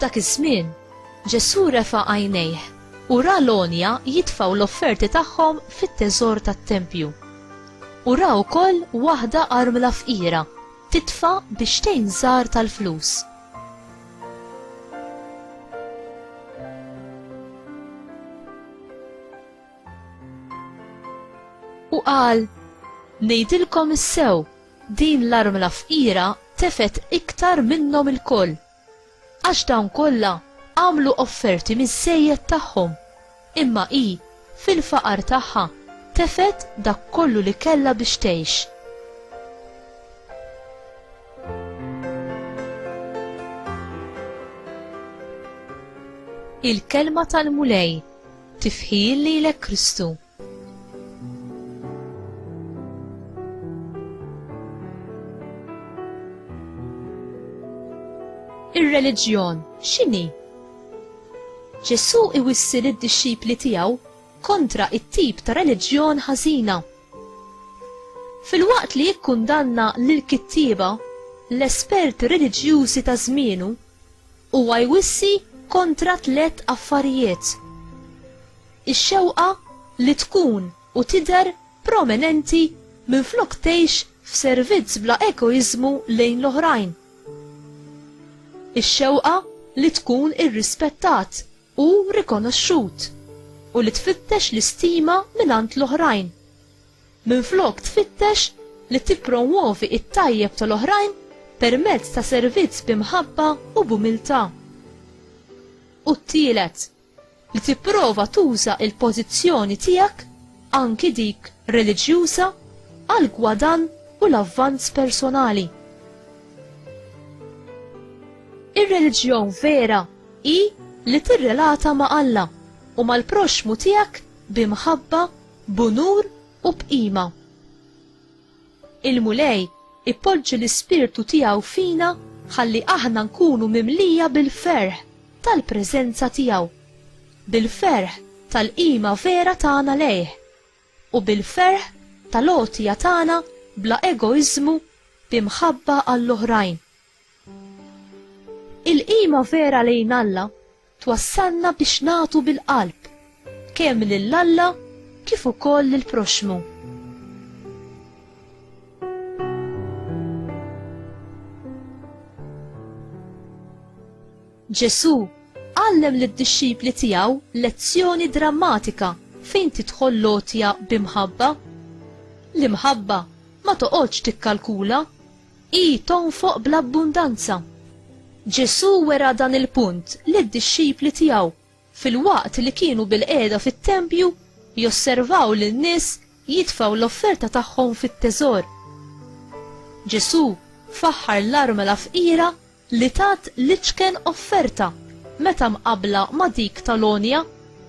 F'dak iż-żmien, Ġesù refa' għajnejh u ra l-għonja jitfaw l-offerti tagħhom fit-teżor tat-tempju. U ra wkoll waħda armla fqira titfa' biex tgħin żgħar tal-flus. U qal, Ngħidilkom is-sew, din l-armla fqira tefet iktar minnhom il-koll. Għax dawn kollha għamlu offerti miż-żejjed tagħhom, Imma hi, fil-faqar tagħha, tefgħet dak kollu li kellha biex tgħix. Il-Kelma tal-Mulej, tifħir lilek Kristu. Ir-reliġjon x'inhi? Ġesù iwissi lid-dixxipli tiegħu kontra t-tip ta' reliġjon ħażina. Filwaqt li jikkundanna lill-kittieba, l-esperti reliġjużi ta' żmienu, huwa jwissi kontra tliet affarijiet, ix-xewqa li tkun u tidher prominenti minflok tgħix f'servizz bla egoiżmu lejn l-oħrajn, ix-xewqa li tkun irrispettat u rikonoxxut, u li tfittex l-istima mingħand l-oħrajn. Minflok tfittex li tippromwovi t-tajjeb tal-oħrajn permezz ta' servizz bi mħabba u b'umiltà. U t-tielet. li tipprova tuża il-pożizzjoni tiegħek, anki dik reliġjuża, għal gwadann u l-avvanz personali. Ir-reliġjon vera hi li tirrelata ma' Alla u mal-proxxmu tiegħek b'imħabba, b'unur u b'qima. Il-Mulej ipoġġi l-Ispirtu tiegħu fina ħalli aħna nkunu mimlija bil-ferħ tal-preżenza tiegħu, bil-ferħ tal-qima vera tagħna lejh, u bil-ferħ tal-għotja tagħna bla egoiżmu bi mħabba għall-oħrajn. Il-qima vera lejn Alla twassalna biex nagħtu bil-qalb, kemm lil Alla kif ukoll lill-proxxmu. Ġesù għallem lid-dixxipli tiegħu lezzjoni drammatika fejn tidħol l-għotja bi mħabba. L-imħabba ma toqgħodx tikkalkula Hi tonfoq bl-abbundanza. Ġesù wera dan il-punt lid-dixxipli tiegħu filwaqt li kienu bilqiegħda fit-tempju josservaw lin-nies jitfgħu l-offerta tagħhom fit-teżor. Ġesù faħħar l-armla fqira li tat l-iċken offerta meta mqabbla ma' dik tal-għonja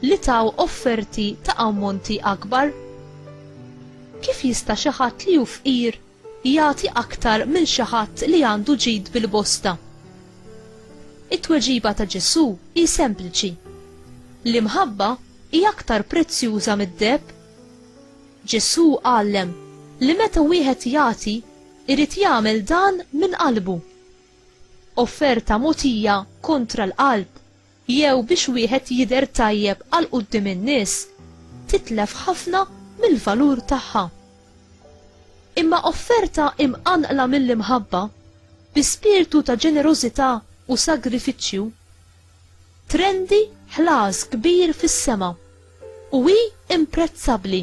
li taw offerti ta' ammonti akbar? Kif jista' xi ħadd li hu fqir jagħti aktar minn xi ħadd li għandu ġid bil-bosta? It-tweġiba ta' Ġesù hi sempliċi, L-imħabba hi aktar prezzjuża mid-deheb. Ġesù għallem li meta wieħed jagħti, irid jagħmel dan minn qalbu. Offerta mogħtija kontra l-qalb jew biex wieħed jidher tajjeb għal quddiem in-nies titlef ħafna mill-valur tagħha. Imma offerta imqanqla mill-imħabba, bi spirtu ta' ġenerożità u sagrifiċċju, trendi ħlas kbir fis-sema u hi imprezzabbli.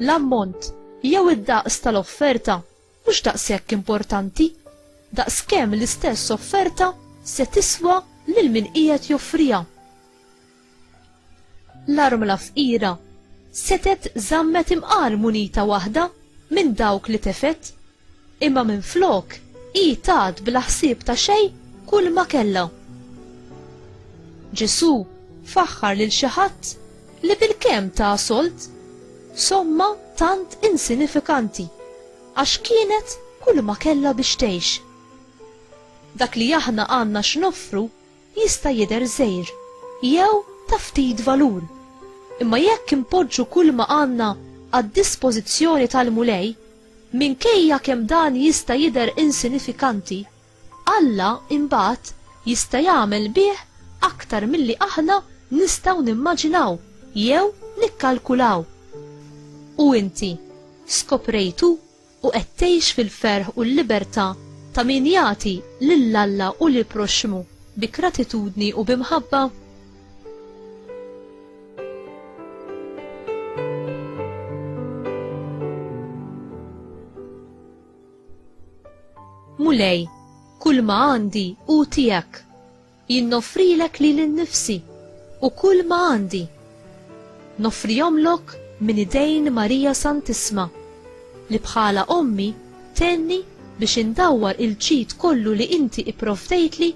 L-ammont jew id-daqs tal-offerta mhux daqshekk importanti daqs kemm l-istess offerta se tiswa lil min qiegħed joffriha. L-armla fqira setet żammet imqar munita waħda minn dawk li tefet, imma minflok hi tat bla ħsieb ta' xejn kull ma kellha. Ġesù faħħar lil xi ħadd li bilkemm ta solt somma tant insinifikanti għax kienet kull ma kellha biex tgħix. Dak li aħna għandna x'noffru jista' jidher żgħir jew ta' ftit valur, imma jekk inpoġġu kull ma għandna għad-dispożizzjoni tal-Mulej, minkejja kemm dan jista' jidher insinifikanti, Alla imbagħad jista' jagħmel bih aktar milli aħna nistgħu nimmaġinaw jew nikkalkulaw. U inti, skoprejtu u qed tgħix fil-ferħ u l-libertà ta' min jagħti lil Alla u lill-proxxmu bi gratitudni u bi mħabba? Mulej, kull ma għandi hu tiegħek. Jien noffrilek lili nnifsi u kull ma għandi. Noffrihomlok minn idejn Marija Santissma, li bħala ommi tenni biex indawwar il-ġid kollu li inti ipprovdejtli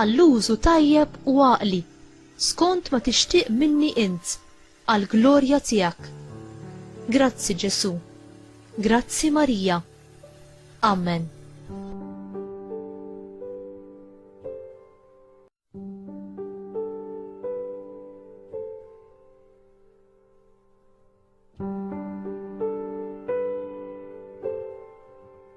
għall-użu tajjeb u għaqli, skont ma tixtieq minni int, għall-glorja tiegħek. Grazzi Ġesù. Grazzi Marija. Amen.